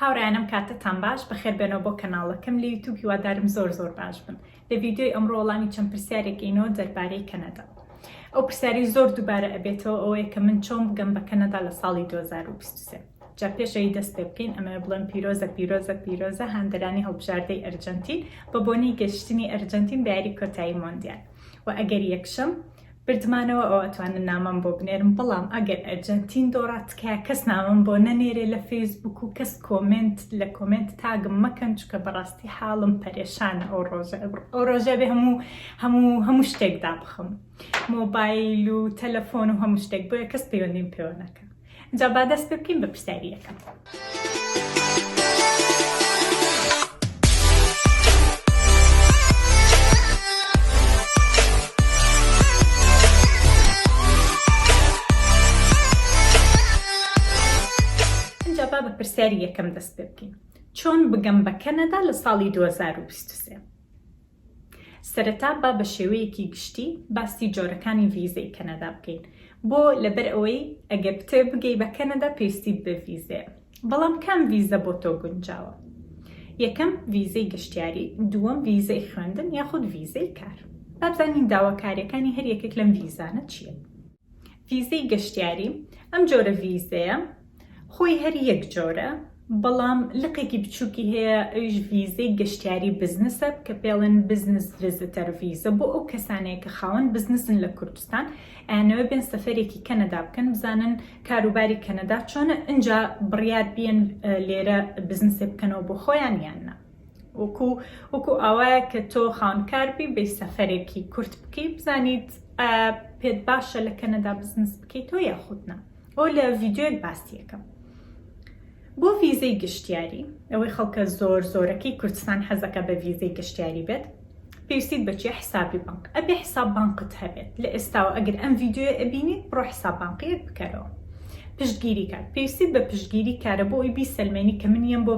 هاوڕێیانم کاتتان باش بەخێر بێنەوە بۆ کەناڵەکەم لە یوتوب هیوادارم زۆر زۆر باش بن لە ڤیددیۆی ئەمڕۆ وەڵامی چەند پرسیارێک ئینەوە دەربارەی کەنەدا ئەو پرسیاری زۆر دووبارە ئەبێتەوە ئەوەیە کە من چۆن بگەم بە کەنەدا لە ساڵی 2023 جا پێشەوی دەست پێ بکەین ئەمە بڵێن پیرۆزە پیرۆزە پیرۆزە هاندەرانی هەڵبژاردەی ئەرجەنتین بە بۆنەی گەشتنی ئەرجەنتین بە یاری کۆتایی مۆندیال و ئەگەر یەکشەم بردمانەوە ئەو ئەتوانن نامەم بۆ بنێرن بەڵام ئەگەر ئەرجەنتین دۆڕا تکایە کەس نامەم بۆ نەنێرێ لە فەیسبووک و کەس کۆمێنت لە کۆمێنت تاگم مەکەن چونکە بەڕاستی حاڵم پەرێشانە ئەو ڕۆژە ئەو ڕۆژە بێ هەموو هەموو هەموو شتێک دابخم مۆبایل و تەلەفۆن و هەموو شتێک بۆیە کەس پەیوەندیم پێوە نەکەن جا با دەست پێ بکەین بە پرسیاری یەکەم با بە پرسیاری یەکەم دەست پێ بکەین چۆن بگەم بە کەنەدا لە ساڵی 2023 سەرەتا با بە شێوەیەکی گشتی باسی جۆرەکانی ڤیزەی کەنەدا بکەین بۆ لەبەر ئەوەی ئەگەر بتەوێت بگەی بە کەنەدا پێویستیت بە ڤیزەیە بەڵام کام ڤیزە بۆ تۆ گونجاوە یەکەم ڤیزەی گەشتیاری دووەم ڤیزەی خوێندن یاخود ڤیزەی کار با بزانین داواکاریەکانی هەر یەکێک لەم ڤیزانە چیە ڤیزەی گەشتیاری، ئەم جۆرە ڤیزەیە خۆی هەر یەک جۆرە بەڵام لقێکی بچووکی هەیە ئەویش ڤیزەی گەشتیاری بزنسە کە پێڵێن بزنس ڤیزتەر ڤیزە بۆ ئەو کەسانەیە کە خاوەن بزنسن لە کوردستان ئەیانەوە بێن سەفەرێکی کەنەدا بکەن بزانن کاروباری کەنەدا چۆنە ئنجا بڕیار بیەن لێرە بزنسێ بکەنەوە بۆ خۆیان یان نا. وەکو وەکو ئاوایە کە تۆ خانکاربی بی سەفەرێکی کورت بکەی بزانیت پێت باشە لە کەنەدا بزنس بکەیت تۆ یاخودنا ئەو لە ڤیددیوێک باسیەکەم بۆ ویزەی گشتیاری ئەوەی خەڵکە زۆر زۆرەکەی کوردستان حەزەکە بە ویزەی گشتیاری بێت پێویستیت بە چیە حسابی بانق ئەبێ حساب بانقت هەبێت لە ئێستاوە ئەگەر ئەم ڤیدیۆیە ئەبینیت بڕۆ حساب بانقیەک بکەرەوە پشتگیری کات پێویستیت بە پشتگیری کارە بۆ ئەوی بیسەلمێنی کە من یەم بۆ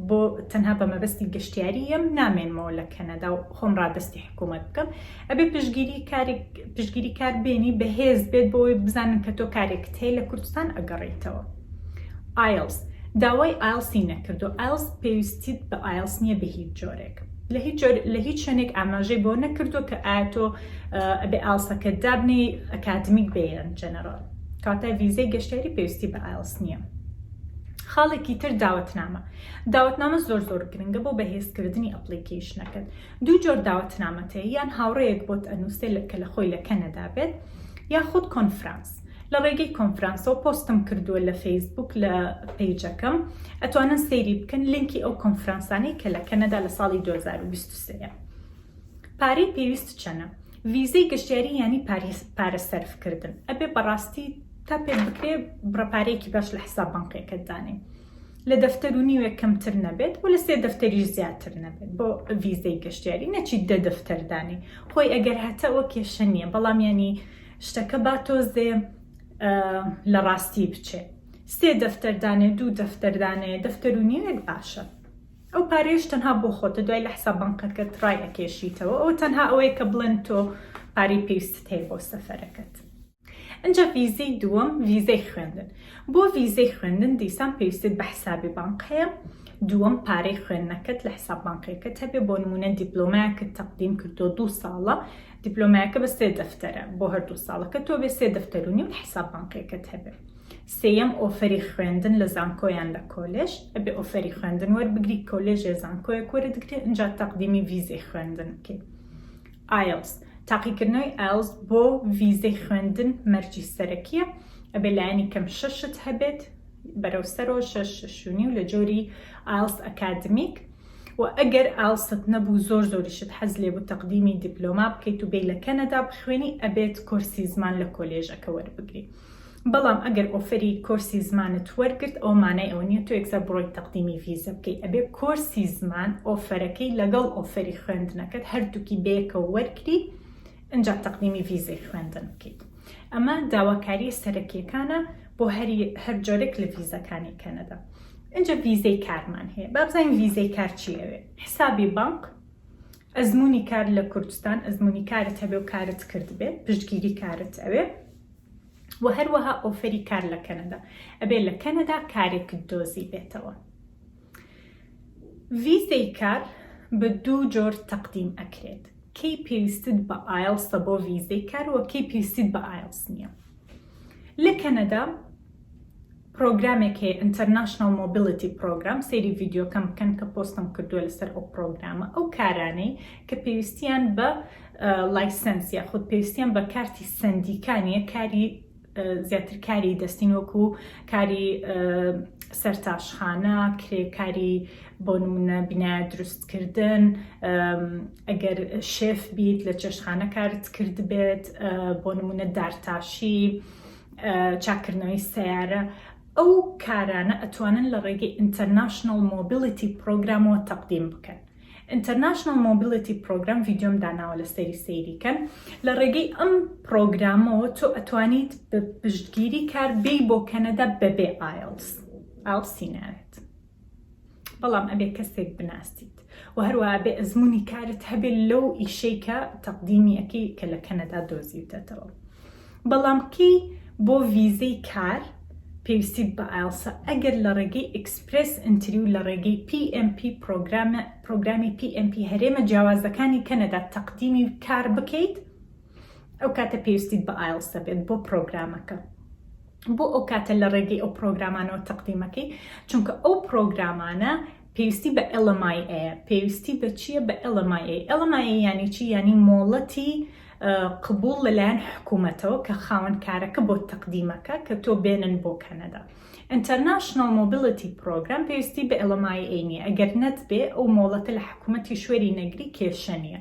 بۆ تەنها بە مەبەستی گەشتیاری یەم نامێنمەوە لە کەنەدا و خۆم ڕادەستی حکوومەت بکەم ئەبێ پشتگیری کارێک پشتگیری کار بێنی بەهێز بێت بۆ ئەوی بزانن کە تۆ کارێکت هەیە لە کوردستان ئەگەڕێیتەوە ئایلس داوای ئایلسی نەکردو ئایلس پێویستیت بە ئایلس نییە بە هیچ جۆرێک لە هیچ جۆر لە هیچ شوێنێک ئاماژەی بۆ نەکردو کە ئایا تۆ ئەبێ ئالسەکەت دابنی ئەکادمیک بێ یان جەنەرال کاتە ڤیزەی گەشتیاری پێویستی بە ئالس نییە خاڵێکی تر داوەتنامە داوەتنامە زۆر زۆر گرنگە بۆ بەهێزکردنی ئەپلیکیشنەکەت دوو جۆر داوەتنامەتەیە یان هاوڕەیەک بۆت ئەنووسێ کە لە خۆی لە کەنەدا بێت یاخود کۆنفرانس لە ڕێگەی کۆنفرانسەوە پۆستم کردووە لە فەیسبووک لە پەیجەکەم ئەتوانن سەیری بکەن لینکی ئەو کۆنفرانسانەی کە لە کەنەدا لە ساڵی 2023 ە پارەی پێویست چەنە ڤیزەی گەشتیاری یانی پارە سەرف کردن ئەبێ بەڕاستی تا پێ بکرێ بڕەپارەیەکی باش لە حساب بانقیەکەت دانێ لە دەفتەر و نیوێک کەمتر نەبێت و لە سێ دەفتەریش زیاتر نەبێت بۆ ڤیزەی گەشتیاری نەچیت دە دەفتەردانی خۆی ئەگەر هەتەوە کێشە نییە بەڵام ینی شتەکە با تۆزێ لە ڕاستی بچێ سێ دەفتەر دانێ دوو دەفتەر دانێ دەفتەر و نیوێک باشە ئەو پارێش تەنها بۆ خۆتە دوای لە حساب بنکەکەت ڕای ئەکێشیتەوە ئەو تەنها ئەوەیە کە بڵێن تۆ پارەی پێویستت هەیە بۆ سەفەرەکەت ئەجا ویزەی دووەم ویزەی خوێندن بۆ ویزەی خوێندن دیسان پێویستت بە حسابی بانق هەیە دووەم پارەی خوێندنەکەت لە حساب بانقەکەت هەبێ بۆ نمونە دیپلۆمایەکە تەقدیم کردو دوو ساڵە دیپلۆمایەکە بە سێ دەفتەرە بۆ هەردوو ساڵەکە تۆ بێ سێ دەفتەر و نیو حیساب بانقیەکەت هەبێ سێیەم ئۆفەری خوێندن لە زانکۆ یان لە کۆلێژ ئەبێ ئۆفەری خوێندن وەربگری کۆلێژێ زانکۆیەک وەرتگرێ ئینجا تەقدیمی ڤیزەی خوێندن بکەی ئایلس تاقیکردنەوەی ئایلس بۆ ڤیزەی خوێندن مەرجی سەرەکیە ئەبێ لایەنی کەم شەشت هەبێت بەرەو سەرۆ شەش شونی و لە جۆری ئالس ئەکادمیک و ئەگەر ئالست نەبوو زۆر زۆریشت حەز لێ بوو تەقدیمی دیپلۆما بکەیت و بێ لە کەنەدا بخوێنی ئەبێت کۆرسی زمان لە کۆلێژەکە وەربگری بەڵام ئەگەر ئۆفری کۆرسی زمانت وەرگرت ئەو مانای ئەو نیە تۆ یەکسەر بڕۆی تەقدیمی ڤیزە بکەی ئەبێ کۆرسی زمان ئۆفەرەکەی لەگەڵ ئۆفری خوێندنەکەت هەردووکی بەیەکە وەرگری ئەجا تەقدیمی ڤیزەی خوێندن بکەیت ئەمە داواکاریە سەرەکیەکانە بۆ هەری هەر جۆرێک لە ڤیزەکانی کەنەدا ئینجا ڤیزەی کارمان هەیە با بزانین ڤیزەی کار چی ئەوێ حسابی بانک ئەزمونی کار لە کوردستان ئەزمونی کارت هەبێ و کارت کرد بێ پشتگیری کارت ئەوێ و هەروەها ئۆفەری کار لە کەنەدا ئەبێ لە کەنەدا کارێکت دۆزی بێتەوە ڤیزەی کار بە دوو جۆر تەقدیم ئەکرێت کەی پێویستت بە ئایلسە بۆ ڤیزەی کار و کەی پێویستیت بە ئایلس نییە لە کەنەدا پرۆگرامێک هەیە International Mobility Program سەیری ڤیدیۆکەم بکەن کە پۆستم کردووە لەسەر ئەو پرۆگرامە ئەو کارانەی کە پێویستیان بە لایسنس یا خود پێویستیان بە کارتی سندیکانە کاری زیاتر کاری دەستین وەکو کاری سەرتاشخانە کرێکاری بۆ نمونە بینایە دروستکردن ئەگەر شێف بیت لە چێشتخانە کارت کردبێت بۆ نمونە دارتاشی چاکردنەوەی سیارە ئەو کارانە ئەتوانن لە ڕێگەی ئینتەرناشنل مۆبیلیتی پرۆگرامەوە تەقدیم بکەن ئینتەرناشنل مۆبیلیتی پرۆگرام ڤیددیۆم داناوە لە سەری سەیریکەن لە ڕێگەی ئەم پرۆگرامەوە تۆ ئەتوانیت بە پشتگیری کار بی بۆ کەنەدا بەبێ ئایلس ئاڵسیناوێت بەڵام ئەبێ کەسێک بناسیت و هەروە ئەبێ ئەزمموی کارت هەبێت لەو ئیشەی کە تەقدیمی ئەەکەی کە لە کەنەدا دۆزیوتەتەوە بەڵام کەی بۆ ڤیزەی کار پێویستیت بە ئایلسە ئەگەر لە ڕێگەی ئەکسپرس ئەتری و لە ڕێگەی PMP پرۆگرامە پرۆگرامی PMP هەرێمە جیاوازەکانی کەنەدا تەقدیمی کار بکەیت ئەو کاتە پێویستیت بە ئایلسە بێت بۆ پرۆگرامەکە بۆ ئەو کاتە لە ڕێگەی ئەو پرۆگرامانەوە تەقدیمەکەی چونکە ئەو پرۆگرامانە پێویستی بە ئەلەمای ئەیە پێویستی بە چییە بە ئەلەمای ئەلەمای یانی چی ینی مۆڵەتی قبول لەلایەن حکوومەتەوە کە خاوەنکارەکە بۆ تەقدیمەکە کە تۆ بێنن بۆ کەنەدا ئینتەرناشنل مۆبیلەتی پرۆگرام پێویستی بە ئەلەمای ئەینی ئەگەر نەت بێ ئەو مۆڵەتە لە حکوومەتی شوێری نەگری کێشە نیە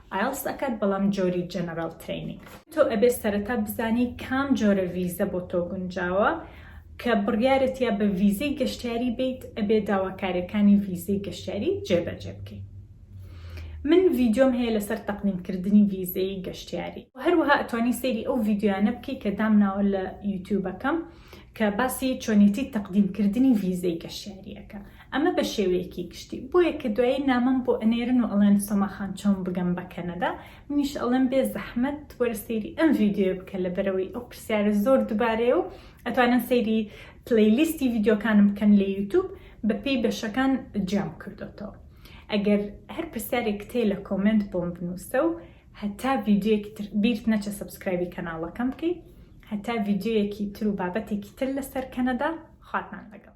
ئایڵس ئەکات بەڵام جۆری جەنەراڵ ترەینی. تۆ ئەبێ سەرەتا بزانی کام جۆرە ڤیزە بۆ تۆ گونجاوە کە بڕیارت یا بە ڤیزەی گەشتیاری بیت ئەبێ داواکاریەکانی ڤیزەی گەشتیاری جێ بەجێ بکەی من ڤیدیۆم هەیە لەسەر تەقدیم کردنی ڤیزەی گەشتیاری هەروەها ئەتوانی سەیری ئەو ڤیدیۆیانە بکەی کە دامناوە لە یوتیوبەکەم کە باسی چۆنێتی تەقدیم کردنی ڤیزەی گەشتیاریەکە ئەمە بە شێوەیەکی گشتی. بۆیە کە دوایی نامەم بۆ ئەنێرن و ئەڵێن سۆما خان چۆن بگەم بە کەنەدا؟ منیش ئەڵێم بێ زەحمەت وەرە سەیری ئەم ڤیدیۆیە بکە لەبەرئەوەی ئەو پرسیارە زۆر دوبارەیە و ئەتوانن سەیری پلەی لیستی ڤیدیۆکانم بکەن لە یوتوب بە پێی بەشەکان جیام کردۆتەوە. ئەگەر هەر پرسیارێکت هەیە لە کۆمێنت بۆم بنوسە و هەتا ڤیدیۆیەکی تر بیرت نەچێ سەبسکرایبی کەناڵەکەم بکەی هەتا ڤیدیۆیەکی تر و بابەتێکی تر لەسەر کەنەدا خواتان لەگەڵ.